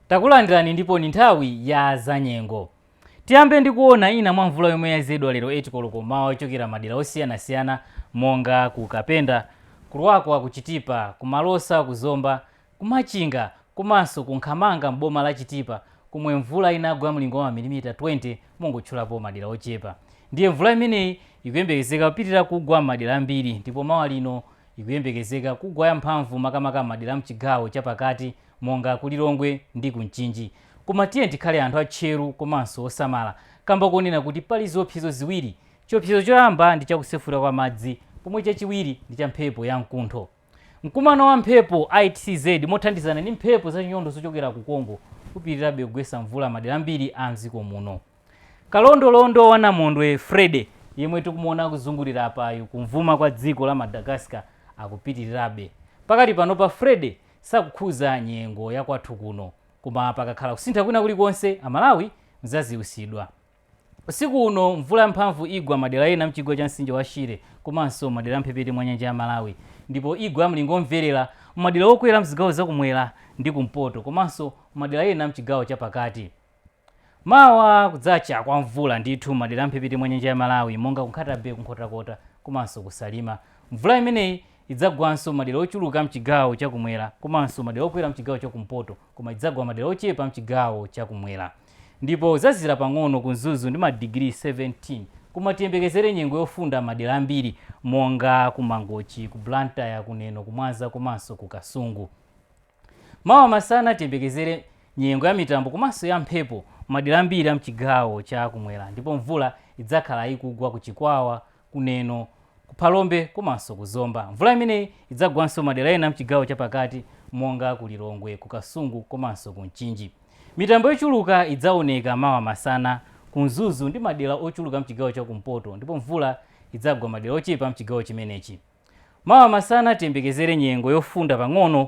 takulandirani ndipo ndi nthawi ya zanyengo tiyambe ndi kuona ina mwa mvula yomwe yayezedwa lero 8 koloko m'mawa yochokera madera osiyanasiyana monga ku kapenda ku lwakwa ku chitipa ku malosa ku zomba Ku Machinga komanso ku Nkhamanga m'boma la Chitipa komwe mvula inagwa mlingo wa mamilimita 20 mongotchulapo madera ochepa. Ndiye mvula imeneyi ikuyembekezeka kupitirira kugwa m'madera ambiri ndipo mawa lino ikuyembekezeka kugwa yamphamvu makamaka m'madera a m'chigawo chapakati monga ku Lilongwe ndi ku Mchinji. Koma tiyeni tikhale anthu atcheru komanso osamala kamba konena kuti pali ziopsezo ziwiri. Chiopsezo choyamba ndi cha kusefukira kwa madzi pomwe chachiwiri ndi cha mphepo yamkuntho. Mkumano wa mphepo ITCZ mothandizana ndi mphepo za chinyontho zochokera ku Congo upitirirabe kugwetsa mvula madera ambiri a mdziko muno. Kalondolondo wa namondwe Freddy yemwe tikumuona akuzungulira apayu kumvuma kwa dziko la Madagascar akupitirirabe. Pakali panopa Freddy sakukhudza nyengo ya kwathu kuno koma pakakhala kusintha kwina kulikonse a Malawi mudzadziwitsidwa. Usiku uno mvula yamphamvu igwa madera ena mchigwa cha mtsinje wa Shire komanso madera a mphepete mwa nyanja ya Malawi ndipo igwa ya mlingo omvelera m'madera okwera mzigawo za kumwera ndi kumpoto komanso madera ena mchigawo cha pakati. Mawa kudzacha kwa mvula ndithu m'madera a mphepete mwa nyanja ya Malawi monga ku Nkhata-Bay, ku Nkhotakota komanso ku Salima. Mvula imeneyi idzagwanso madera ochuluka mchigawo cha kumwera komanso madera okwera mchigawo cha kumpoto koma idzagwa madera ochepa mchigawo cha kumwera. ndipo kudzazizira pang'ono ku Mzuzu ndi madigiri 17 koma tiyembekezere nyengo yofunda m'madera ambiri monga ku Mangochi, ku Blantyre, ku Neno, ku Mwanza komanso ku Kasungu. Mawa masana tiyembekezere nyengo ya mitambo komanso ya mphepo m'madera ambiri a m'chigawo cha kumwera ndipo mvula idzakhala ikugwa ku Chikwawa, ku Neno, ku Phalombe komanso ku Zomba. Mvula imeneyi idzagwanso madera ena m'chigawo chapakati monga ku Lilongwe, ku Kasungu komanso ku Mchinji. Mitambo yochuluka idzaoneka mawa masana ku Mzuzu ndi madera ochuluka m'chigawo cha kumpoto ndipo mvula idzagwa madera ochepa m'chigawo chimenechi. Mawa masana tiyembekezere nyengo yofunda pang'ono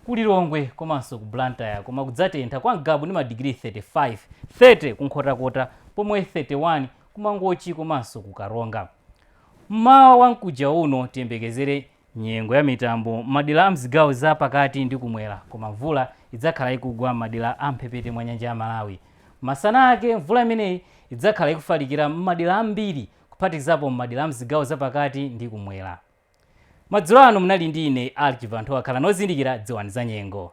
ku Lilongwe komanso ku Blantyre koma kudzatentha kwa Ngabu ndi madigiri 35, 30 ku Nkhotakota pomwe 31 ku Mangochi komanso ku Karonga. M'mawa wa mkuja uno tiyembekezere nyengo ya mitambo m'madera a m'zigawo za pakati ndi kumwera koma mvula idzakhala ikugwa m'madera a m'mphepete mwa nyanja ya Malawi. Masana ake, mvula imeneyi idzakhala ikufalikira m'madera ambiri. kuphatikizapo m'madera a m'zigawo zapakati ndi kumwera. Madzulo ano munali ndi ine Archie Vanthowa. Khalani ozindikira, dziwani zanyengo.